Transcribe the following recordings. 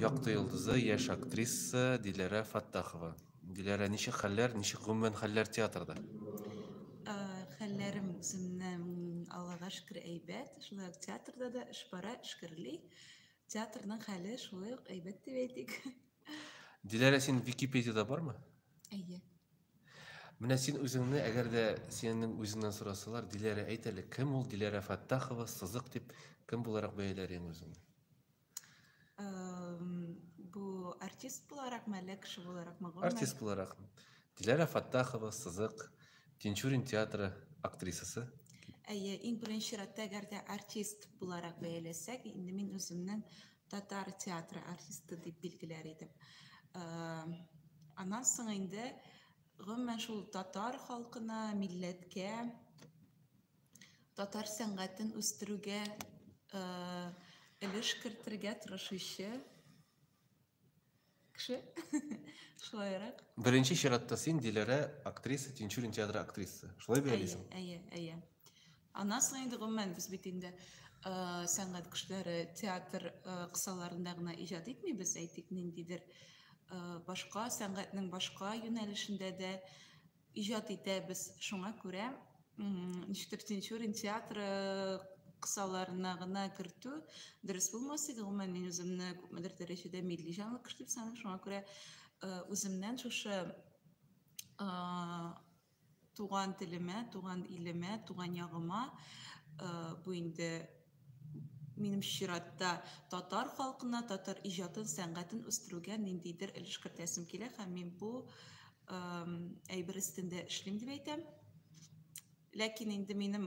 Якты йолдызы, яшь актриса Диләрә Фаттахова. Диләрә, ничек хәлләр, ничек гомумән хәлләр театрда? Ә, Хәлләрем үземнең Аллага шөкер әйбәт. Шулай ук театрда да эш бара, эшкерли. Театрның хәле шулай ук әйбәт дип әйтик. Диләрә, син Википедияда бармы? Әйе. Менә син үзеңне, әгәр дә синең үзеңнән сорасалар, Диләрә, әйт әле, кем ул Диләрә Фәттахова, сызык дип, кем буларак бәяләр идең үзеңне? Бу артист буларак мәле, кеше буларак ма? Артист буларак. Диләрә Фәттахова, сызык, Тинчурин театры актрисасы. Әйе, иң беренче чиратта, әгәр дә артист буларак бәяләсәк, инде мин үземнең татар театры артисты дип билгеләр идем. Аннан соң инде гомумән шул татар халкына, милләткә, татар сәнгатен үстерүгә өлеш кертергә тырышучы Кеше. Шулайрак. Беренче чиратта син Диләрә актриса, Тинчурин театры актрисасы. Шулай бит Алиса? Әйе, әйе. Аннан соң инде гомумән без бит инде э, сәнгать кешеләре театр э, кысаларында гына иҗат итмибез, әйтик, ниндидер э, башка сәнгатьнең башка юнәлешендә дә иҗат итәбез. Шуңа күрә ничектер Тинчурин театры кысаларына гына кертү дөрес булмас иде. Гомумән, мин үземне күпмедер дәрәҗәдә милли җанлыкыш дип саныйм. Шуңа күрә үземнән шушы туган телемә, туган илемә, туган ягыма бу инде Минем чиратта, татар халкына, татар иҗатын, сәнгатен үстерүгә ниндидер өлеш кертәсем килә һәм мин бу әйбер өстендә эшлим дип әйтәм. Ләкин инде минем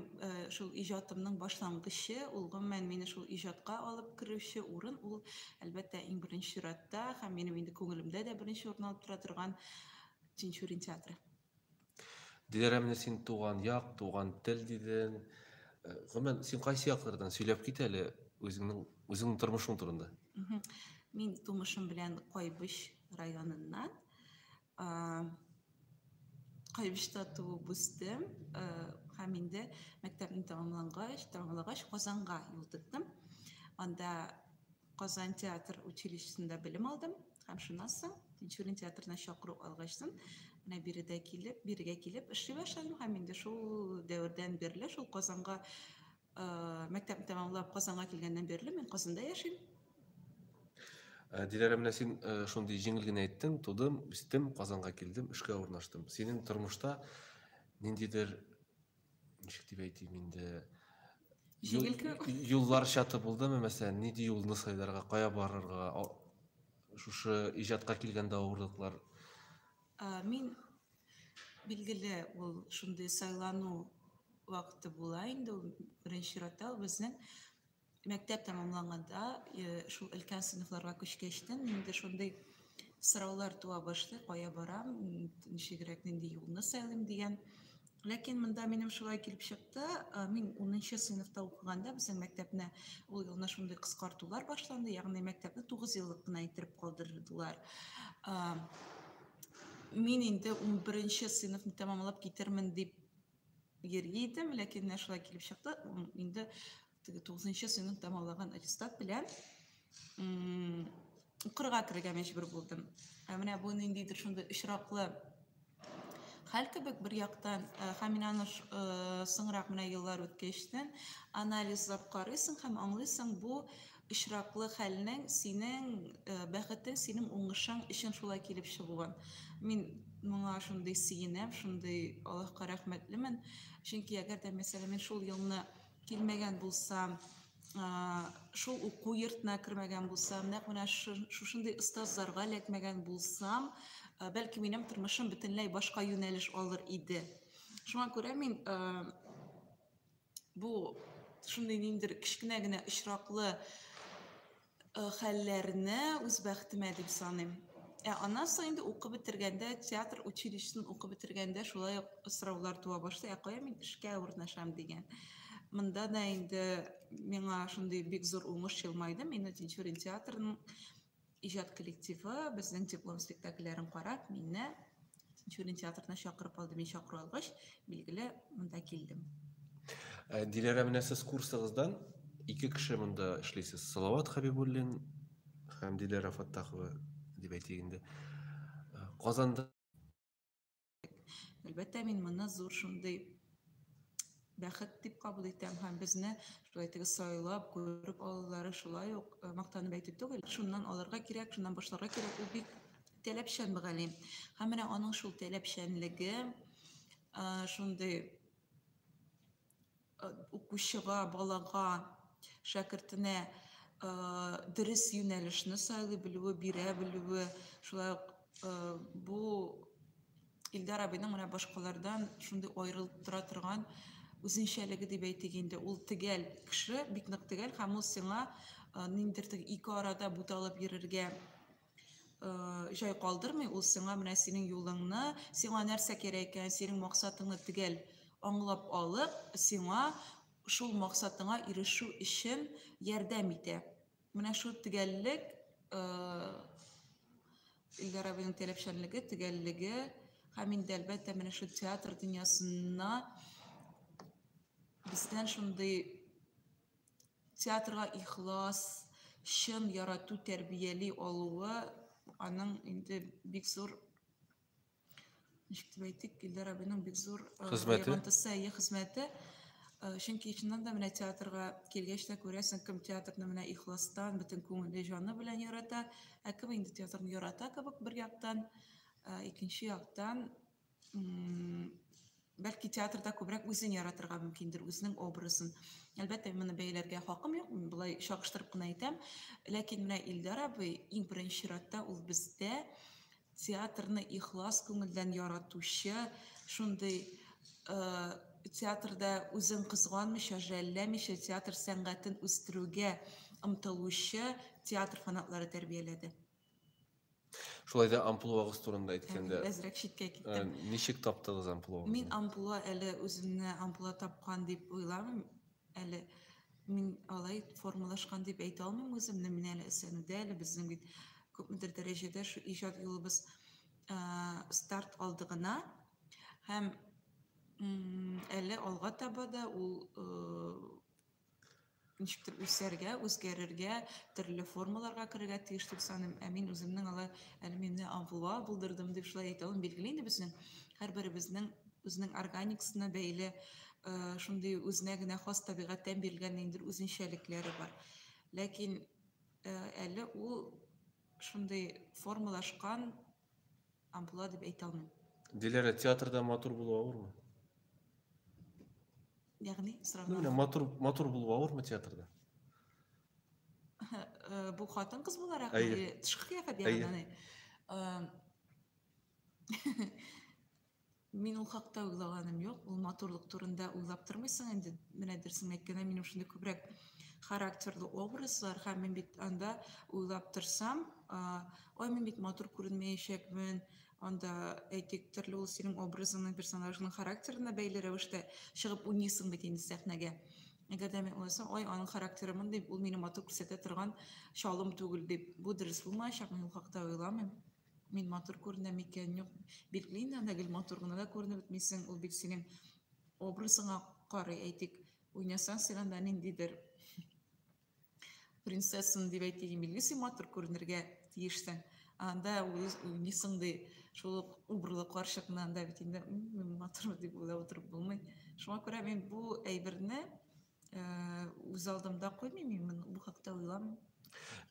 шул иҗатымның башлангычы, ул гомумән мине шул иҗатка алып керүче урын, ул әлбәттә иң беренче чиратта һәм минем инде күңелемдә дә беренче урын алып тора торган Тинчурин театры. Диләрәмне син туган як, туган тел дидең. Э, гомумән, син кайсы яклардан сөйләп кит әле үзеңнең үзеңнең тормышың турында. Мин тумышым белән Кайбыч районыннан. Кайбычта туып үстем э, һәм инде мәктәпне тәмамлагач, тәмамлагач Казанга юл тоттым. Анда Казан театр училищесында белем алдым һәм шуннан соң Тинчурин театрына чакыру алгач соң, менә биредә килеп, бирегә килеп эшли башладым һәм инде шул дәвердән бирле шул Казанга мәктәпне тәмамлап Казанга килгәннән бирле мин Казанда яшим. Э, Диләрә, менә син э, шундый җиңел генә әйттең, тудым, үстем, Казанга килдем, эшкә урнаштым. Синең тормышта ниндидер ничек дип әйтим инде юллар чаты булдымы мәсәлән нинди юлны сайларга кая барырга шушы иҗатка килгәндә авырлыклар мин билгеле ул шундый сайлану вакыты була инде ул беренче чиратта ул безнең мәктәп тәмамланганда шул өлкән сыйныфларга күчкәч тә инде шундый сораулар туа башлый кая барам ничегрәк нинди юлны сайлыйм дигән ләкин монда минем шулай килеп чыкты мин унынчы сыйныфта укыганда безнең мәктәпне ул елны шундый кыскартулар башланды ягъни мәктәпне тугыз еллык кына иттереп калдырдылар мин инде унберенче сыйныфны тәмамлап китермен дип йөргән идем, ләкин менә шулай килеп чыкты. Инде теге 9нчы сыйныф тәмамлаган аттестат белән укырга керергә мәҗбүр булдым. Ә менә бу ниндидер шундый очраклы хәл кебек бер яктан һәм мин аны соңрак менә еллар үткәчтен анализлап карыйсың һәм аңлыйсың, бу очраклы хәлнең синең бәхетең, синең уңышың өчен шулай килеп чыгуын. Мин моңа шундый сөенәм, шундый Аллаһка рәхмәтлемен. Чөнки әгәр дә мәсәлән мин шул елны килмәгән булсам, шул уку йортына кермәгән булсам, нәкъ менә шушындый остазларга эләкмәгән булсам, бәлки минем тормышым бөтенләй башка юнәлеш алыр иде. Шуңа күрә мин бу шундый ниндер кечкенә генә очраклы хәлләрне үз бәхтемә дип саныйм. Ә аннан соң инде укып бетергәндә, театр училищесын укып бетергәндә шулай ук сораулар туа башлый, ә кая мин эшкә урнашам дигән. Монда да инде миңа шундый бик зур уңыш елмайды, мине Тинчурин театрының Иҗат коллективы безнең диплом спектакльләрен карап, мине Тинчурин театрына чакырып алды. Мин чакыру алгач, билгеле, монда килдем. Э, Диләрә, менә сез курсыгыздан ике кеше монда эшлисез. Салават Хабибуллин һәм Диләрә Фаттахова дип әйтик инде. Э, Казанда Әлбәттә, мин моны зур шундый бәхет дип кабул итәм һәм безне шулай итеп сайлап күреп алулары шулай ук э, мактанып әйтү түгел шуннан алырга кирәк шуннан башларга кирәк ул бик таләпчән мөгаллим һәм менә аның шул таләпчәнлеге э, шундый укучыга, балага, шәкертенә дөрес юнәлешне сайлый белүе, бирә белүе, шулай ук бу Илдар абыйның менә башкалардан шундый аерылып тора торган үзенчәлеге дип әйтик инде. Ул тегәл кеше, бик нык тегәл һәм ул сиңа ниндидер ике арада буталып йөрергә Э, җай калдырмый ул сиңа менә синең юлыңны сиңа нәрсә кирәк икән синең максатыңны төгәл аңлап алып сиңа шул максатыңа ирешү өчен ярдәм итә менә шул төгәллек э, Илдар абыйның таләпчәнлеге, төгәллеге һәм инде әлбәттә менә шул театр дөньясына бездән шундый Театрга ихлас, чын ярату тәрбияли алуы аның инде бик зур ничек дип әйтик, Илдар абыйның бик зур э, хезмәте, әйе, хезмәте. Э, чөнки чыннан да менә театрга килгәч тә күрәсең, кем театрны менә ихластан, бөтен күңеле, җаны белән ярата, ә кем инде театрны ярата кебек бер яктан, э, икенче яктан бәлки театрда күбрәк үзен яратырга мөмкиндер, үзенең образын. Әлбәттә, моны бәяләргә хакым юк, мин болай чагыштырып кына әйтәм. Ләкин менә Илдар абый иң беренче чиратта ул бездә театрны ихлас күңелдән яратучы, шундый э, театрда үзен кызганмыйча, жәлләмичә театр сәнгатен үстерүгә омтылучы театр фанатлары тәрбияләде. Шулай да амплуагыз турында әйткәндә. Әзрәк читкә киттем. Э, ничек таптыгыз амплуагызны? Мин амплуа әле үземне амплуа тапкан дип уйламыйм. Әле мин алай формалашкан дип әйтә алмыйм үземне. Мин әле эсәнүдә, әле безнең бит күпмедер дәрәҗәдә шу иҗат юлыбыз э, старт алды гына. Һәм әле алга таба да ул э, ничектер үсәргә, үзгәрергә, төрле формаларга керергә тиеш дип саныйм. Ә мин үземнең алай әлмимне авылга булдырдым дип шулай әйтәвем билгеле инде безнең һәрберебезнең үзенең органикасына бәйле э, шундый үзенә генә хас табигатьтән бирелгән ниндидер үзенчәлекләре бар. Ләкин э, әле ул шундый формалашкан Амплуа дип әйтә алмыйм. Диләрә, театрда матур булу авырмы? Ягъни, сораган. Менә матур матур булу авырмы театрда? Э, бу хатын кыз буларак тышкы кыяфәт ягыннан Мин ул хакта уйлаганым юк. Ул матурлык турында уйлап тормыйсың инде. Менә дөресен әйткәндә, минем шундый күбрәк характерлы образлар һәм мин бит анда уйлап торсам, ой, мин бит матур күренмәячәкмен, анда әйтик, төрле ул синең образыңның, персонажның характерына бәйле рәвештә чыгып уйныйсың бит инде сәхнәгә. Әгәр дә мин уйласам, ой, аның характеры мондый, ул мине матур күрсәтә торган чалым түгел дип, бу дөрес булмаячак, мин ул хакта уйламыйм. Мин матур күренәм икән, юк, бик Лина, ана гел матур гына да күренеп бетмисең, ул бит синең образыңа карый, әйтик, уйнасаң син анда ниндидер принцессаны дип әйтик, билгеле син матур күренергә тиешсең. Анда уйныйсың ди, шул ук убырлы карчыкны анда бит инде матур дип уйлап утырып булмый. Шуңа күрә мин бу әйберне үз алдымда куймыйм имин бу хакта уйламыйм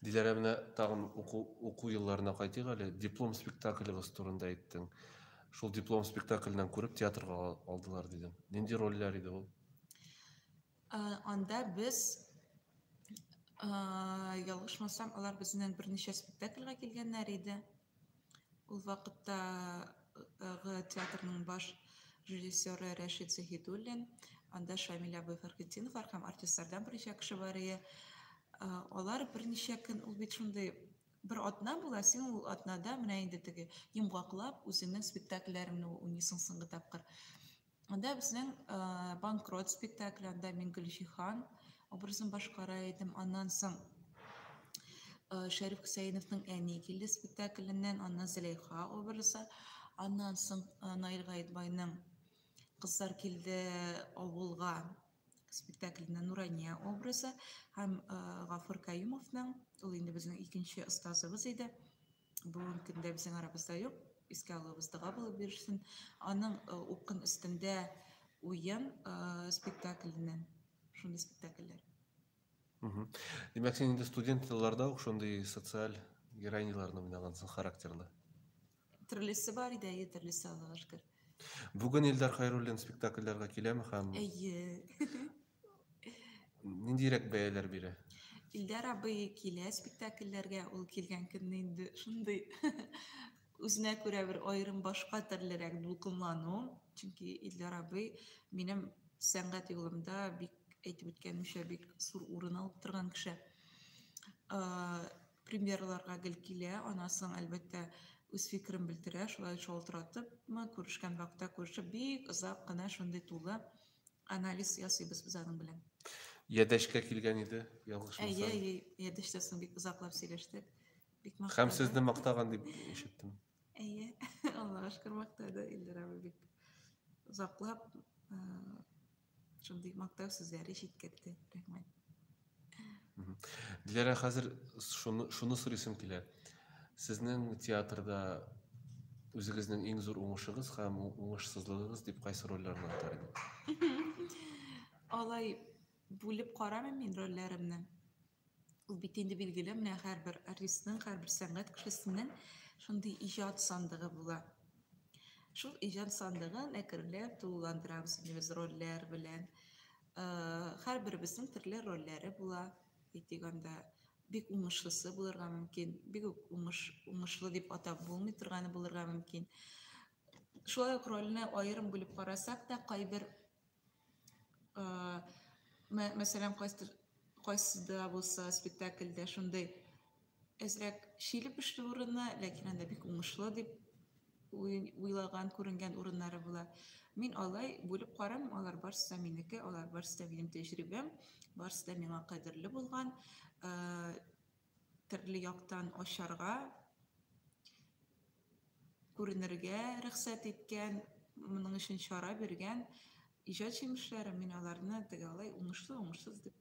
диләрә менә тагын уку уку елларына кайтыйк әле диплом спектакльгыз турында әйттең шул диплом спектакльнен күреп театрга алдылар дидең нинди рольләр иде ул анда без ялгышмасам алар безнен берничә спектакльгә килгәннәр иде Ул вакытта театрның баш режиссеры Рәшит Заһидуллин, анда Шамиль абый Фәрхетдинов һәм артистлардан берничә кеше бар иде. Алар берничә көн ул бит шундый бер атна була, син ул атнада менә инде теге йомгаклап үзеңнең спектакльләреңне уйныйсың соңгы тапкыр. Анда безнең банкрот спектакль, анда мин Гөлҗихан образын башкара идем. Аннан соң Шәриф Хөсәеновның әни килде спектакленнән, аннан Зәләйха образы, аннан соң Наил Гаетбайның кызлар килде авылга спектакльне Нурания образы һәм Гафур Каюмовның, ул инде безнең икенче остазыбыз иде, бүгенге көндә безнең арабызда юк искә алуыбыз дога булып йөрсен аның э, укын өстендә уен э, спектакльне шундый спектакльләр димәк син инде студент елларда ук шундый социаль героиняларны уйнагансың характерлы төрлесе бар иде әйе төрлесе аллага шөкер бүгін илдар хайруллин спектакльләргә киләме һәм әйе Ниндирәк бәяләр бирә? Илдар абый килә спектакльләргә, ул килгән көнне инде шундый үзенә күрә бер аерым башка төрлерәк дулкынлану, чөнки Илдар абый минем сәнгать юлымда бик әйтеп үткәнемчә бик зур урын алып торган кеше. Премьерларга гел килә, анасын әлбәттә үз фикерен белдерә, шулай шалтыратыпмы, күрешкән вакытта күрешеп, бик озак кына шундый тулы анализ ясыйбыз без аның белән. Ядәшкә килгән иде, ялгышмасам. Әйе, әйе, ядәштә соң бик озаклап сөйләштек. Бик мактады. Һәм сезне мактаган дип ишеттем. Әйе, Аллага шөкер мактады Илдар абый бик озаклап шундый мактау сүзләре җиткерде. Рәхмәт. Диләрә, хәзер шуны, шуны сорыйсым килә. Сезнең театрда үзегезнең иң зур уңышыгыз һәм уңышсызлыгыгыз дип кайсы рольләрне атар идегез? Алай бүлеп карамыйм мин рольләремне. Ул бит инде билгеле, менә һәрбер артистның, һәрбер сәнгать кешесенең шундый иҗат сандыгы була. Шул иҗат сандыгын әкренләп тулыландырабыз инде без рольләр белән. Һәрберебезнең төрле рольләре була, әйтик анда бик уңышлысы булырга мөмкин, бик үк уңыш, уңышлы дип атап булмый торганы булырга мөмкин. Шулай ук рольне аерым бүлеп карасак та, кайбер мәсәлән, кайсы кайсыда булса спектакльдә шундый әзрәк чиле пешле урыны, ләкин анда бик уңышлы дип уйлаган, күренгән урыннары була. Мин алай бүлеп карамыйм, алар барысы да минеке, алар барысы да минем тәҗрибәм, барысы да миңа кадерле булган. Э, төрле яктан ачарга күренергә рөхсәт иткән, моның өчен чара биргән иҗат җимешләре, мин аларны теге алай уңышлы, уңышсыз дип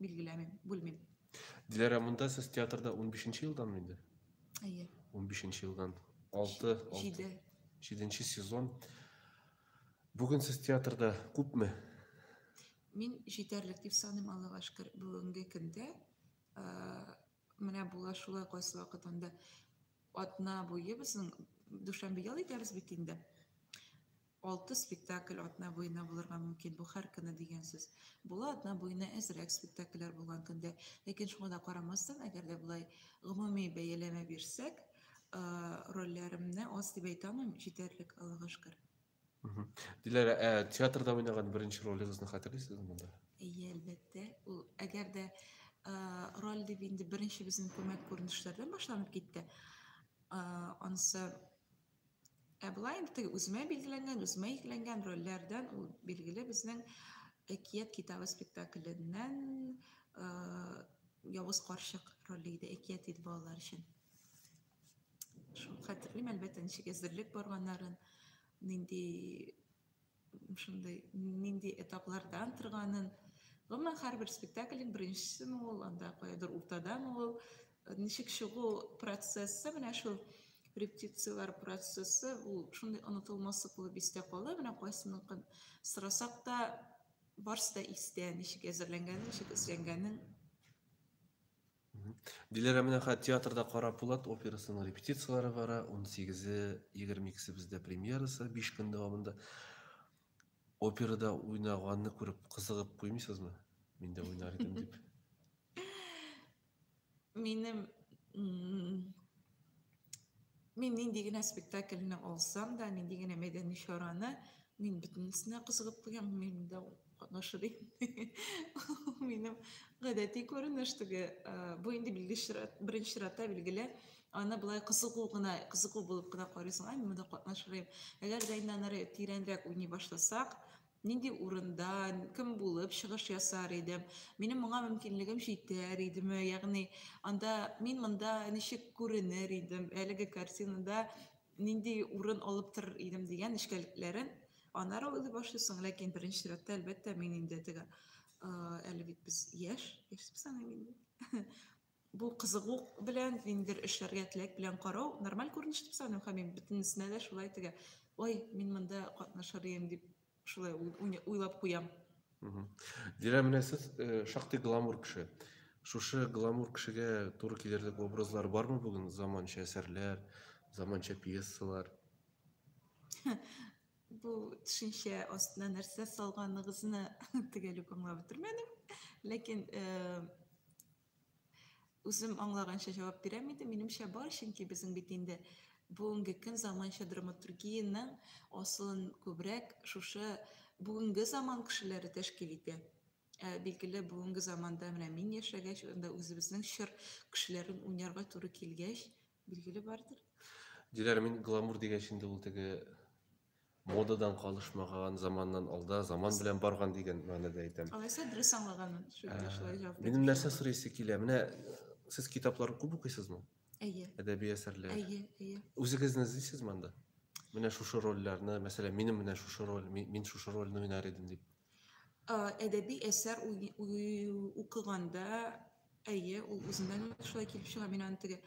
билгеләмим, бүлмим. Диләрә, монда сез театрда 15 нче елдан инде? Әйе. 15 нче елдан. 6, 7. 7 нче сезон. Бүген сез театрда күпме? Мин җитәрлек дип саныйм, Аллага шөкер, бүгенге көндә. Менә була шулай кайсы вакыт анда атна буе безнең дүшәмбе ял итәбез бит инде. Алты спектакль атна буена булырга мөмкин. Бу һәр көне дигән сүз. Була атна буена әзрәк спектакльләр булган көндә. Ләкин шуңа да карамастан, әгәр дә болай гомуми бәяләмә бирсәк, рольләремне аз дип әйтә алмыйм, җитәрлек, Аллага шөкер. Диләрә, ә театрда уйнаган беренче ролегезне хәтерлисезме монда? Әйе, әлбәттә. Ул әгәр дә роль дип инде беренче безнең күмәк күренешләрдән башланып китте. Анысы ә былай инде үземә билгеләнгән, үземә йөкләнгән рольләрдән ул билгеле безнең Әкият китабы спектакленнән Явыз карчык роле иде, әкият иде балалар өчен. Шул хәтерлим, әлбәттә, ничек әзерлек барганнарын, нинди шундый нинди этаплардан торганын. Гомумән, һәрбер спектакльнең беренчесеме ул, анда каядыр уртадамы ул, ничек чыгу процессы менә шул репетицияләр процессы ул шундый онытылмаслык булып истә кала менә кайсыныкын сорасак та барысы да истә ничек әзерләнгәнен ничек эзләнгәнен Диләрә менә хәзер театрда Кара Пулат операсының репетицияләре бара. 18-е, 22-се бездә премьерасы 5 көн дәвамында. Операда уйнаганны күреп кызыгып куймыйсызмы? Мин дә уйнар идем дип. Минем Мин нинди генә спектакльне алсам да, нинди генә мәйдәни чараны, мин бөтенесенә кызыгып куям, мин дә катнашыр идем. Минем гадәти күренеш теге, бу инде беренче чиратта билгеле, аны былай кызыгу гына, кызыгу булып кына карыйсың, ай, мин монда катнашырым. Әгәр дә инде аннары тирәнрәк уйный башласак, Нинди урында, кем булып чыгыш ясар идем? Минем моңа мөмкинлегем җитәр идеме? Ягъни анда мин монда ничек күренер идем? Әлеге картинада нинди урын алып торыр идем дигән нечкәлекләрен аннары уйлый башлыйсың. Ләкин беренче чиратта, әлбәттә, мин инде теге әле бит без яшь, яшь дип саныйм инде. бу кызыгу белән ниндидер эшләргә теләк белән карау нормаль күренеш дип саныйм һәм мин бөтенесенә дә шулай тегә ой мин монда катнашыр идем дип шулай уйлап куям дилә менә сез э, шактый гламур кеше шушы гламур кешегә туры килерлек образлар бармы бүген заманча әсәрләр заманча пьесалар Бу төшенчә астына нәрсә салганыгызны төгәл үк аңлап бетермәдем. Ләкин үзем аңлаганча җавап бирәм иде. Минемчә бар, чөнки безнең бит инде бүгенге көн заманча драматургиянең асылын күбрәк шушы бүгенге заман кешеләре тәшкил итә. Ә билгеле бүгенге заманда менә мин яшәгәч, анда үзебезнең чор кешеләрен уйнарга туры килгәч, Билгеле бардыр. Диләр, мин гламур дигәч инде ул теге модадан калышмаган, заманнан алда, заман белән барган дигән мәгънәдә әйтәм. Алайса дөрес аңлаганмын. Ә, минем нәрсә сорыйсы килә? Менә сез китаплар күп укыйсызмы? Әйе. Әдәби әсәрләр. Әйе, әйе. Үзегезне эзлисез монда? Менә шушы рольләрне, мәсәлән, минем менә шушы роль, мин шушы рольне уйнар идем дип. Ә, әдәби әсәр укыганда Әйе, ул үзеннән үк шулай килеп чыга. Мин аны теге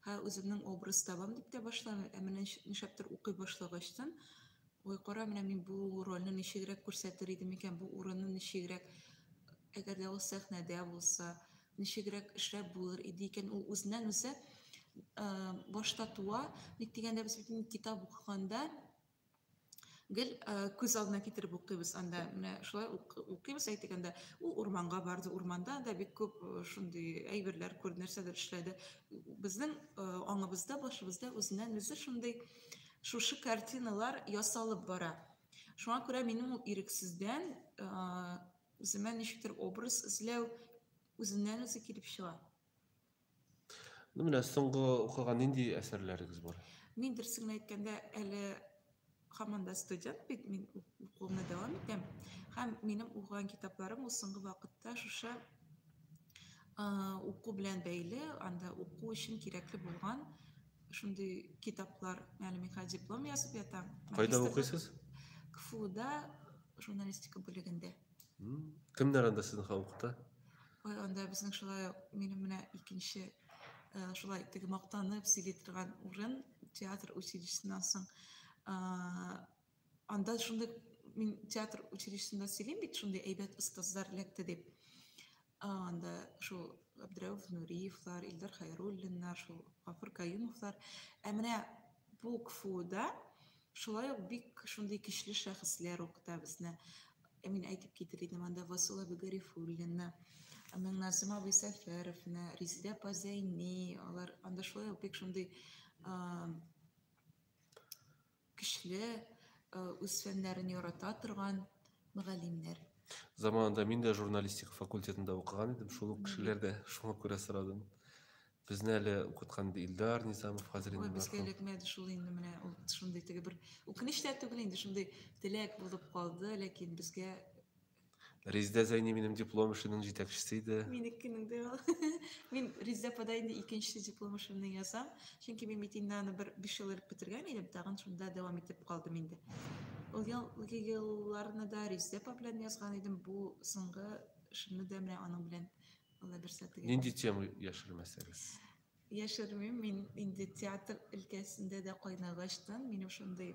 һә үземнең образ табам дип тә башламый, ә менә нишләптер укый башлагачтын, ой, кара, менә мин бу рольне ничегрәк күрсәтер идем икән, бу урынны ничегрәк, әгәр дә ул сәхнәдә булса, ничегрәк эшләп булыр иде икән, ул үзеннән үзе башта туа, ник дигәндә без бит китап укыганда гел күз алдына китереп укыйбыз анда менә шулай укыйбыз әйтик анда ул урманга барды урманда да бик күп шундый әйберләр күрде нәрсәдер эшләде безнең аңыбызда башыбызда үзеннән үзе шундый шушы картиналар ясалып бара шуңа күрә минем ул ирексездән үземә ничектер образ эзләү үзеннән үзе килеп чыга Ну, менә соңгы укыган нинди әсәрләрегез бар? Мин дөресен әйткәндә, әле һаман да студент бит, мин укуымны дәвам итәм. Һәм минем укыган китапларым ул соңгы вакытта шушы уку белән бәйле, анда уку өчен кирәкле булган шундый китаплар, әле мин хәзер диплом язып ятам. Кайда укыйсыз? КФУда журналистика бүлегендә. Кемнәр анда сезнең халыкта? Ой, анда безнең шулай минем менә икенче э, шулай теге мактанып сөйли торган урын театр училищесыннан соң анда шундый мин театр училищесында сөйлим бит шундый әйбәт остазлар эләкте дип анда шул Абдрәүф Нуриевлар, Илдар Хайруллиннар, шул Гафур Каюмовлар. Ә менә бу КФУда шулай ук бик шундый көчле шәхесләр укыта безне. Ә мин әйтеп китер идем анда Васул абый Гарифуллинны, Миңназым абый Сәфәровны, Резидә апа Зәйни, алар анда шулай ук бик шундый Көчле, э, үз фәннәрен ярата торган мөгаллимнәр. Заманында мин дә журналистика факультетында укыган идем, шул ук кешеләрдә шуңа күрә сорадым. Безне әле укыткан иде Илдар Низамов хәзер инде. Ой, безгә эләкмәде шул инде менә ул шундый теге бер үкенеч тә түгел инде шундый теләк булып калды, ләкин безгә Резидә Зәйни минем диплом эшенең җитәкчесе иде. Минекенең дә ул. Мин Резидә апада инде икенче диплом эшемне язам, чөнки мин бит инде аны бер 5 ел элек бетергән идем, тагын шунда дәвам итеп калдым инде. Ул елгы елларны да Резидә апа белән язган идем, бу соңгы эшемне дә менә аның белән Алла бирсә тегеп. Нинди тема яшермәсәгез? Яшермим, мин инде театр өлкәсендә дә кайнагачтан, минем шундый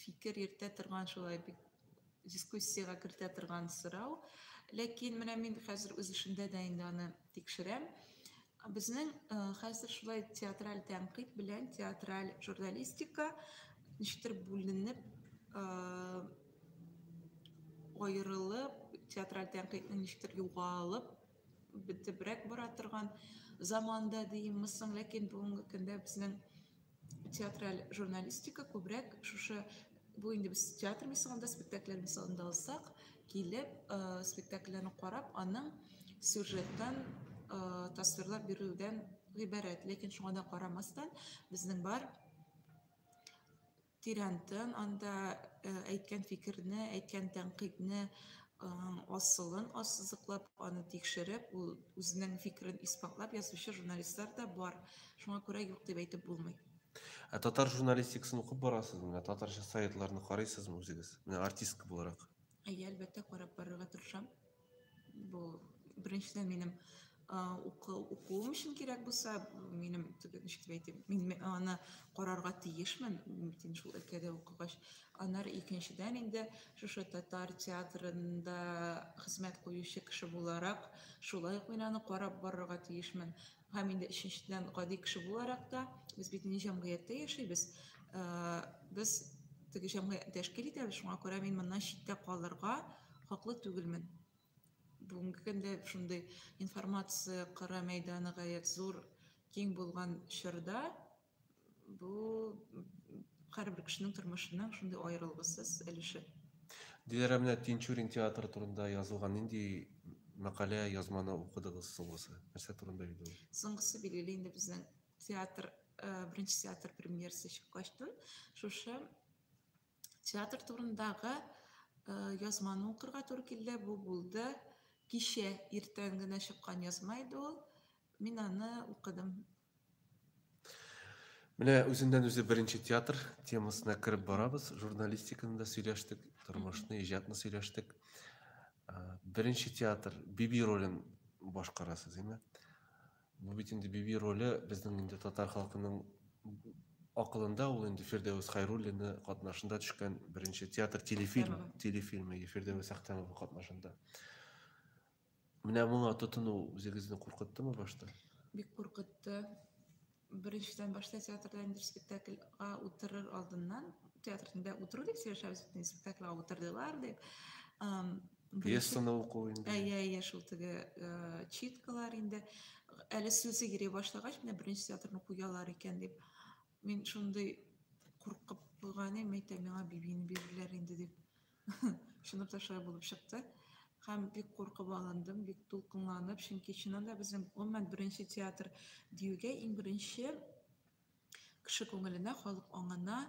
фикер йөртә торган шулай бик дискуссиягә кертә торган сорау. Ләкин менә мин хәзер үз эшемдә дә инде аны тикшерәм. Безнең э, хәзер шулай театраль тәнкыйть белән театраль журналистика ничектер бүленеп э, аерылып, театраль тәнкыйтьнең ничектер югалып бетебрәк бара торган заманда диемме соң, ләкин бүгенге көндә безнең Театраль журналистика күбрәк шушы бу инде без театр мисалында, спектакльләр мисалында алсак, килеп, э, спектакльләрне карап, аның сюжеттан э, тасвирлап бирүдән гыйбарәт. Ләкин шуңа да карамастан, безнең бар тирәнтен анда э, әйткән фикерне, әйткән тәнкыйтьне асылын ассызыклап, аны тикшереп, ул үзенең фикерен исбатлап язучы журналистлар да бар. Шуңа күрә юк дип әйтеп булмый. Ә татар журналистикасын укып барасызмы? Менә татарча сайтларны карыйсызмы үзегез? Менә артистка буларак. Әйе, әлбәттә, карап барырга тырышам. Бу беренчедән минем укуым өчен кирәк булса минем ничек дип әйтим мин аны карарга тиешмен мин шул өлкәдә укыгач аннары икенчедән инде шушы татар театрында хезмәт куючы кеше буларак шулай ук мин аны карап барырга тиешмен һәм инде өченчедән гади кеше буларак та без бит инде җәмгыятьтә яшибез без теге җәмгыятьне тәшкил итәбез шуңа күрә мин моннан читтә калырга хаклы түгелмен Бүгенге көндә шундый информация кара мәйданы гаять зур, киң булган чорда бу һәрбер кешенең тормышының шундый аерылгысыз өлеше. Диләрә менә Тинчурин театры турында язылган нинди мәкалә язманы укыдыгыз соңгысы? Нәрсә турында иде ул? Соңгысы билгеле инде безнең театр, э, беренче театр премьерасы чыккачтын шушы Театр турындагы э, язманы укырга туры килде. Бу булды кичә иртән генә чыккан язма иде ул. Мин аны укыдым. Менә үзеннән үзе беренче театр темасына кереп барабыз. Журналистиканы да сөйләштек, тормышны, иҗатны сөйләштек. Э, беренче театр Биби ролен башкарасыз, әйме? Бу бит инде Биби роле безнең инде татар халкының акылында ул инде Фирдәвес Хайруллина катнашында төшкән беренче театр телефильм телефильмы Фирдәвес Әхтәмова катнашында. Менә моңа тотыну үзегезне куркыттымы башта? Бик куркытты. Беренчедән башта театрда инде спектакльга утырыр алдыннан театрда утыру дип сөйләшәбез бит спектакльга утырдылар дип. пьесаны уку инде әйе әйе шул теге э, читкалар инде әле сүзе йөри башлагач менә беренче театрны куялар икән дип мин шундый куркып куйган идем әйтәм миңа бибини бирерләр инде дип чынлап та шулай булып чыкты һәм бик куркып алындым бик дулкынланып чөнки чыннан да безнең гомумән беренче театр диюгә иң беренче кеше күңеленә халык аңына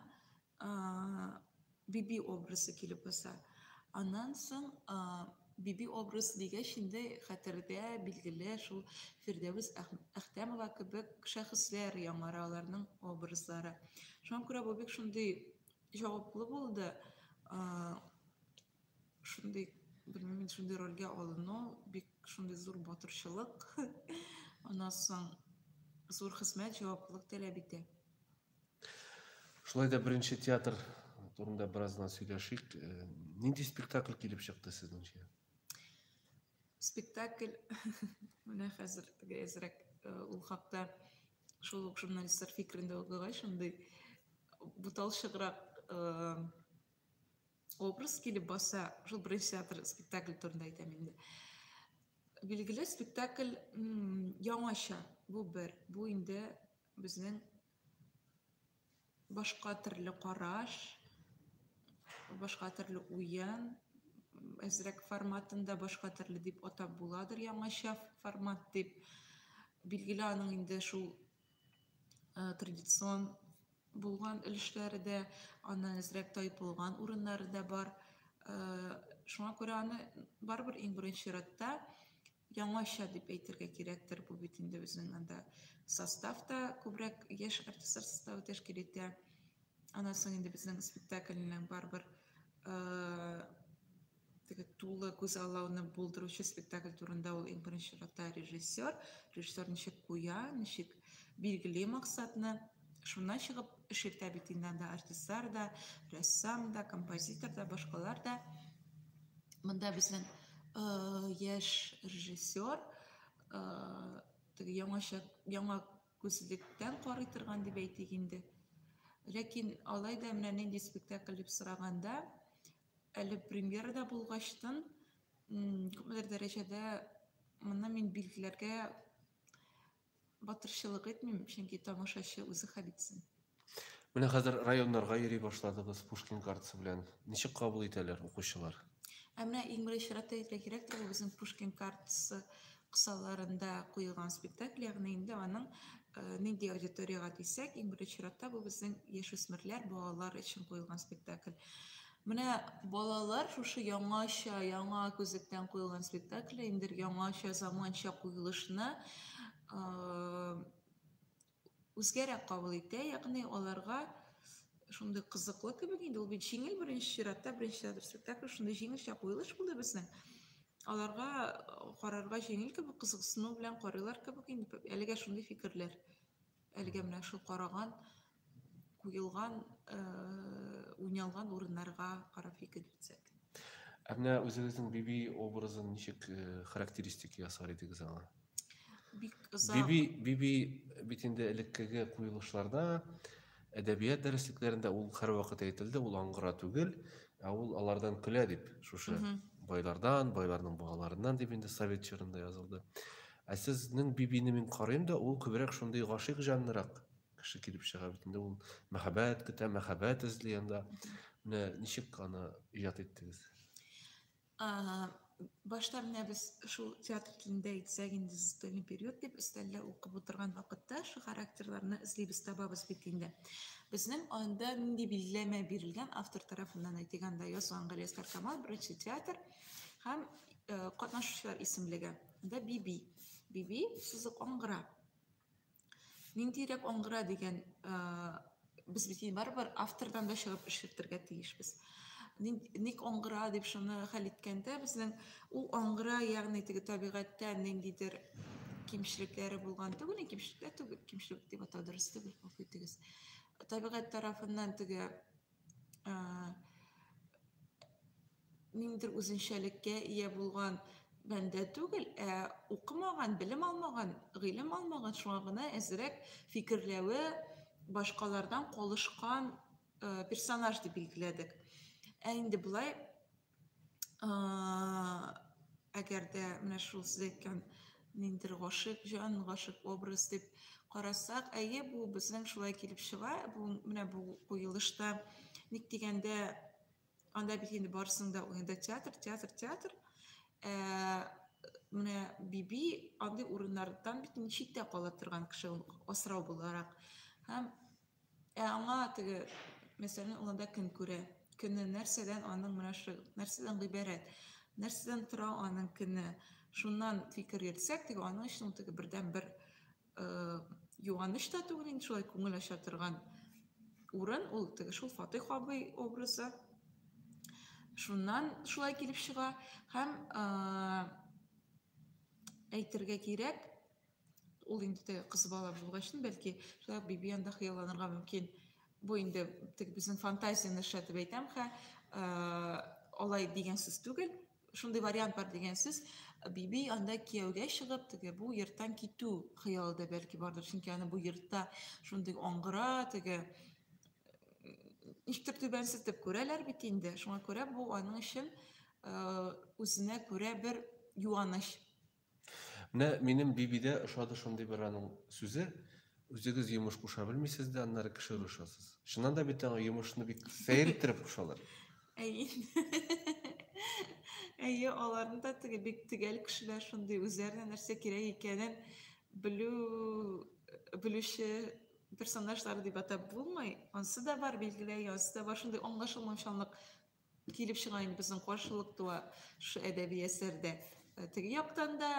Биби образы килеп баса. Аннан соң Биби образы дигәч инде хәтердә билгеле шул Фирдәвес Әхтәмова кебек шәхесләр яңара аларның образлары. Шуңа күрә бу бик шундый җаваплы булды. Шундый, белмим, шундый рольгә алыну бик шундый зур батырчылык. Аннан соң зур хезмәт, җаваплылык таләп итә. Шулай да беренче театр турында бераз гына сөйләшик. Э, нинди спектакль килеп чыкты сезнеңчә? Спектакль менә хәзер теге әзрәк э, ул хакта шул ук журналистлар фикерендә укыгач, шундый буталчыграк э, образ килеп баса, шул беренче театр спектакль турында әйтәм инде. Билгеле спектакль яңача. Бу бер, бу инде Безнең башка төрле караш, башка төрле уен, әзрәк форматында башка төрле дип атап буладыр, яңача формат дип. Билгеле аның инде шул э, традицион булган өлешләре дә, аннан әзрәк тайпылган урыннары да бар. Э, шуңа күрә аны барыбер иң беренче чиратта яңача дип әйтергә кирәктер, бу бит инде безнең анда состав та күбрәк яшь артистлар составы тәшкил итә. Аннан соң инде безнең спектакльнең барыбер теге тулы күзаллауны булдыручы спектакль турында ул иң беренче чиратта режиссер, режиссер ничек куя, ничек билгели максатны. Шуннан чыгып эш итә бит инде анда артистлар да, рәссам да, композитор да, башкалар да. Монда безнең э, яшь режиссер э, теге яңача яңа күзлектән карый торган дип әйтик инде. Ләкин алай да менә нинди спектакль дип сораганда, әле премьерада булгачтын, күпмедер дәрәҗәдә моны мин билгеләргә Батырчылык итмим, чөнки тамашачы үзе хәл итсен. Менә хәзер районнарга йөри башладыгыз Пушкин картасы белән. Ничек кабул итәләр укучылар? Ә менә иң беренче чиратта әйтергә кирәктер, ул безнең Пушкин картасы кысаларында куелган спектакль, ягъни инде аның э, нинди аудиторияга дисәк, иң беренче чиратта бу безнең яшүсмерләр, балалар өчен куелган спектакль. Менә балалар шушы яңача, яңа күзлектән куелган спектакль, инде яңача заманча куелышны үзгәрәк кабул итә, ягъни аларга шундый кызыклы кебек инде ул бит җиңел беренче чиратта, беренче театр спектакль шундый җиңелчә куелыш булды безнең. Аларга карарга җиңел кебек, кызыксыну белән карыйлар кебек инде әлегә шундый фикерләр. Әлегә менә шул караган, куелган, уйналган урыннарга карап фикер йөртсәк. Ә менә үзегезнең Биби образын ничек характеристика ясар идегез аңа? Бик озак. Биби, Биби бит инде элеккеге куелышларда, әдәбият дәреслекләрендә ул һәрвакыт әйтелде, ул аңгыра түгел, ә ул алардан көлә дип, шушы байлардан, байларның балаларыннан дип инде совет чорында язылды. Ә сезнең Бибине мин карыйм да, ул күбрәк шундый гашыйк җанлырак кеше килеп чыга бит инде. Ул мәхәббәт көтә, мәхәббәт эзли анда. Менә ничек аны иҗат иттегез? Башта менә без шул театр телендә әйтсәк инде застольный период дип өстәлдә укып утырган вакытта шул характерларны эзлибез, табабыз бит инде. Безнең анда нинди билгеләмә бирелгән автор тарафыннан әйтик, анда язган Гөләстар Камал, беренче театр һәм катнашучылар исемлеге. Монда биби. Биби сузык аңгыра. Ниндирәк аңгыра дигән без бит барыбер автордан да чыгып эшертергә тиешбез. Ник аңгыра дип шуны хәл иткәндә безнең ул аңгыра, ягъни теге табигатьтә ниндидер кимчелекләре булган түгел, кимчелекләр түгел, кимчелек дип атау дөрес түгел, гафу итегез. Табигать тарафыннан теге ниндидер үзенчәлеккә ия булган бәндә түгел, ә укымаган, белем алмаган, гыйлем алмаган, шуңа гына әзрәк фикерләве башкалардан калышкан персонаж дип билгеләдек. Ә инде болай Әгәр дә менә шул сез әйткән ниндер гашык җан, гашык образ дип карасак, әйе, бу безнең шулай килеп чыга. Бу менә бу куелышта ник дигәндә анда бит инде барысының да уенда театр, театр, театр. Ә, менә Биби андый урыннардан бит инде читтә кала торган кеше, асрау буларак. Һәм Ә аңа теге мәсәлән алында кем күрә? Көне нәрсәдән аның менә шул нәрсәдән гыйбарәт? Нәрсәдән тора аның көне? Шуннан фикер йөртсәк, теге аның өчен теге бердән бер э, юаныч та түгел инде шулай күңел ача торган урын ул теге шул Фатих абый образы. Шуннан шулай килеп чыга һәм э, әйтергә кирәк, Ул инде теге кыз бала булган өчен, бәлки, шулай ук Биби анда хыялланырга мөмкин. Бу инде теге безнең фантазияне эшләтеп әйтәм хә. Алай дигән сүз түгел. Шундый вариант бар дигән сүз. Биби анда кияүгә чыгып, теге бу йорттан китү хыялы да бәлки бардыр, чөнки аны бу йортта шундый аңгыра, теге ничектер түбәнсетеп күрәләр бит инде. Шуңа күрә бу аның өчен үзенә күрә бер юаныч Менә минем бибидә ошады шундый бер аның сүзе, үзегез йомыш куша белмисез дә, аннары кеше кушасыз. Чыннан да бит аңа йомышны бик сәер иттереп кушалар. Әйе. Әйе, аларны да теге бик төгәл кешеләр шундый үзләренә нәрсә кирәк икәнен белү белүче персонажлар дип атап булмый. Ансы да бар, билгеле, ансы да бар шундый аңлашылмаучанлык килеп чыга инде безнең каршылык туа шушы әдәби әсәрдә э, теге яктан да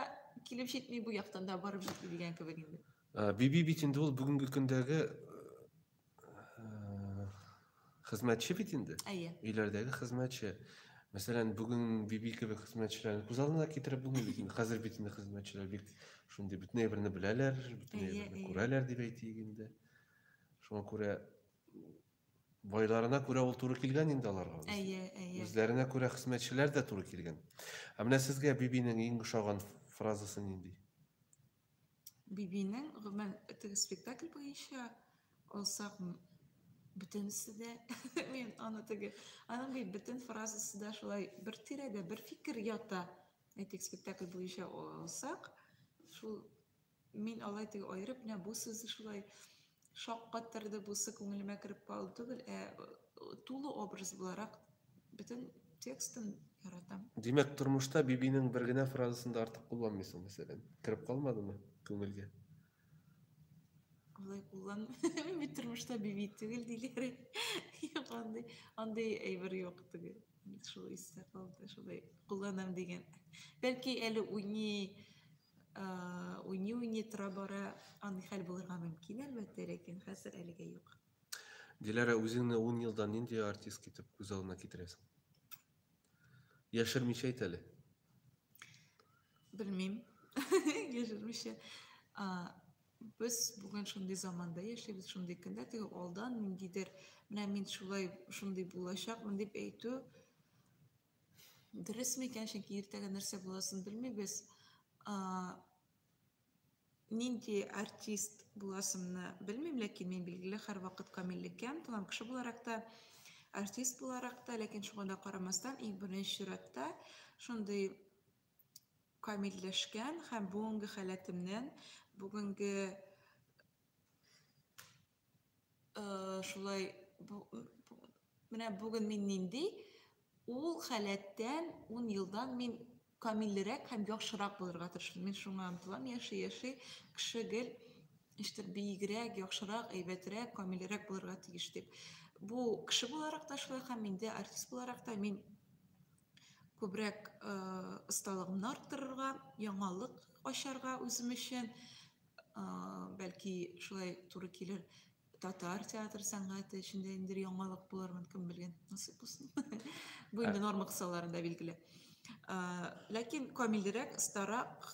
килеп җитми бу яктан да барып җитми дигән кебек инде э, биби бит инде ул бүгенге көндәге э, хезмәтче бит инде әйе өйләрдәге хезмәтче мәсәлән бүген биби кебек хезмәтчеләрне күз алдына китереп булмый бит инде хәзер бит инде хезмәтчеләр бик шундый бөтен әйберне беләләр бөтен әйберне күрәләр дип әйтик инде шуңа күрә Байларына күрә ул туры килгән инде аларга. Әйе, әйе. Үзләренә күрә хезмәтчеләр дә туры килгән. Ә менә сезгә Бибинең иң ошаган фразасы нинди? Бибинең, гомумән, теге спектакль буенча алсак, бөтенесе дә, мин аны теге, аның бит бөтен фразасы да шулай бер тирәдә, бер фикер ята. Әйтик, спектакль буенча алсак, шул Мин алай теге аерып менә бу сүзе шулай шаккаттырды, бусы күңелемә кереп калды түгел, ә тулы образ буларак бөтен текстын яратам. Димәк, тормышта Бибинең бер генә фразасын да артык кулланмыйсың, мәсәлән. Кереп калмадымы күңелгә? Алай куллан. Мин бит тормышта Биби түгел диләр. Юк, андый, андый әйбер юк түгел. Шул истә калды, шулай кулланам дигән. Бәлки әле уйный уйный-уйный тора-бара андый хәл булырга мөмкин, әлбәттә, ләкин хәзер әлегә юк. Диләрә, үзеңне ун елдан нинди артист итеп күз алдына китерәсең? Яшермичә әйт әле. Белмим. Яшермичә. Без бүген шундый заманда яшибез, шундый көндә, теге алдан ниндидер, менә мин шулай, шундый булачакмын дип әйтү Дөрес микән, чөнки иртәгә нәрсә буласын белмибез. Нинди артист буласымны белмим, ләкин мин билгеле һәрвакыт камиллеккә омтылам кеше буларак та, артист буларак та, ләкин шуңа да карамастан, иң беренче чиратта шундый камилләшкән һәм бүгенге халәтемнән, бүгенге шулай менә бүген мин нинди ул халәттән ун елдан мин камиллерәк һәм яхшырак булырга тырышам мин шуңа омтылам яши яши кеше гел ничектер биегрәк яхшырак әйбәтрәк камиллерәк булырга тиеш дип бу кеше буларак та шулай һәм инде артист буларак та мин күбрәк осталыгымны арттырырга яңалык ачарга үзем өчен бәлки шулай туры килер татар театр сәнгате эчендә инде яңалык булырмын кем белгән насыйп булсын бу инде норма кысаларында билгеле ләкин камилрәк старак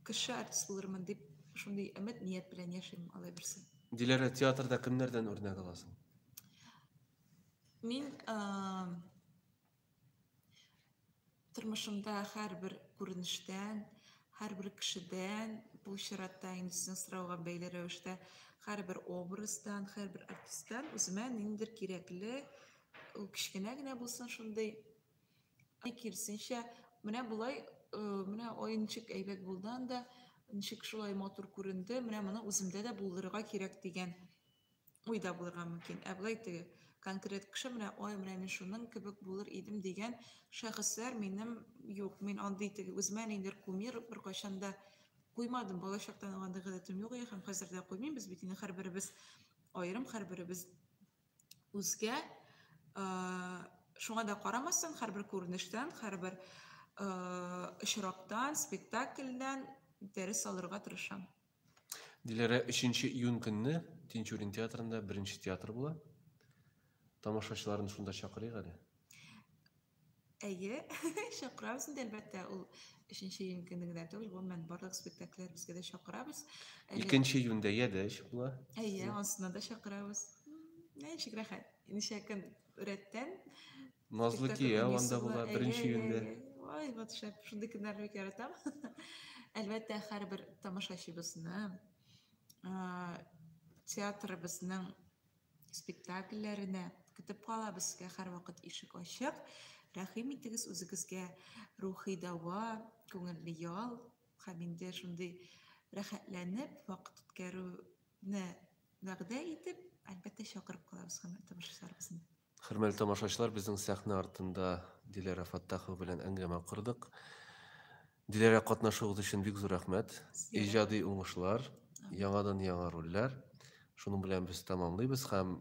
кеше артист булырмын дип шундый өмет ният белән яшим алай берсе диләрә театрда кемнәрдән үрнәк аласың мин Тормышымда һәрбер күренештән, һәрбер кешедән, бу чиратта инде сезнең сорауга бәйле рәвештә, һәрбер образдан, һәрбер артисттан үземә ниндидер кирәкле, ул кечкенә генә булсын шундый, киресенчә, менә болай, менә ой, ничек әйбәт булды анда, ничек шулай матур күренде, менә моны үземдә дә булдырырга кирәк дигән уй да булырга мөмкин. Ә болай теге конкрет кеше менә ой, менә мин шуның кебек булыр идем дигән шәхесләр минем юк. Мин андый теге үземә ниндер кумир беркайчан да куймадым. Балачактан ук андый гадәтем юк иде һәм хәзер дә куймыйм. Без бит инде һәрберебез аерым, һәрберебез үзгә. Шуңа да карамастан, һәрбер күренештән, һәрбер очрактан, спектакльдән дәрес алырга тырышам. Диләрә 3 июнь көнне Тинчурин театрында беренче театр була. Тамашачыларын шунда чакырыйк әле. Әйе, чакырабыз инде әлбәттә, ул 3 июнь көнне генә түгел, гомумән барлык спектакльләребезгә дә чакырабыз. Әле- 2 июньдә Ядәч була. Әйе, ансына да чакырабыз. М, Ничек рәхәт, ничә көн рәттән. Назлы кия анда була беренче көндә. Ай, вот шәп, шундый көннәрне бик яратам. Әлбәттә, һәрбер тамашачыбызны театрыбызның спектакльләренә көтеп кала безгә һәрвакыт ишек ачык. Рәхим итегез үзегезгә рухи дәва, күңелле ял һәм инде шундый рәхәтләнеп вакыт үткәрү не вәгъдә итеп, әлбәттә, чакырып калабыз хөрмәтле тамашачыларыбызны. Хөрмәтле тамашачылар, безнең сәхнә артында Диләрә Фаттахова белән әңгәмә кордык. Диләрә катнашуыгыз өчен бик зур рәхмәт. Иҗади уңышлар, яңадан яңа рольләр. Шуның белән без тәмамлыйбыз һәм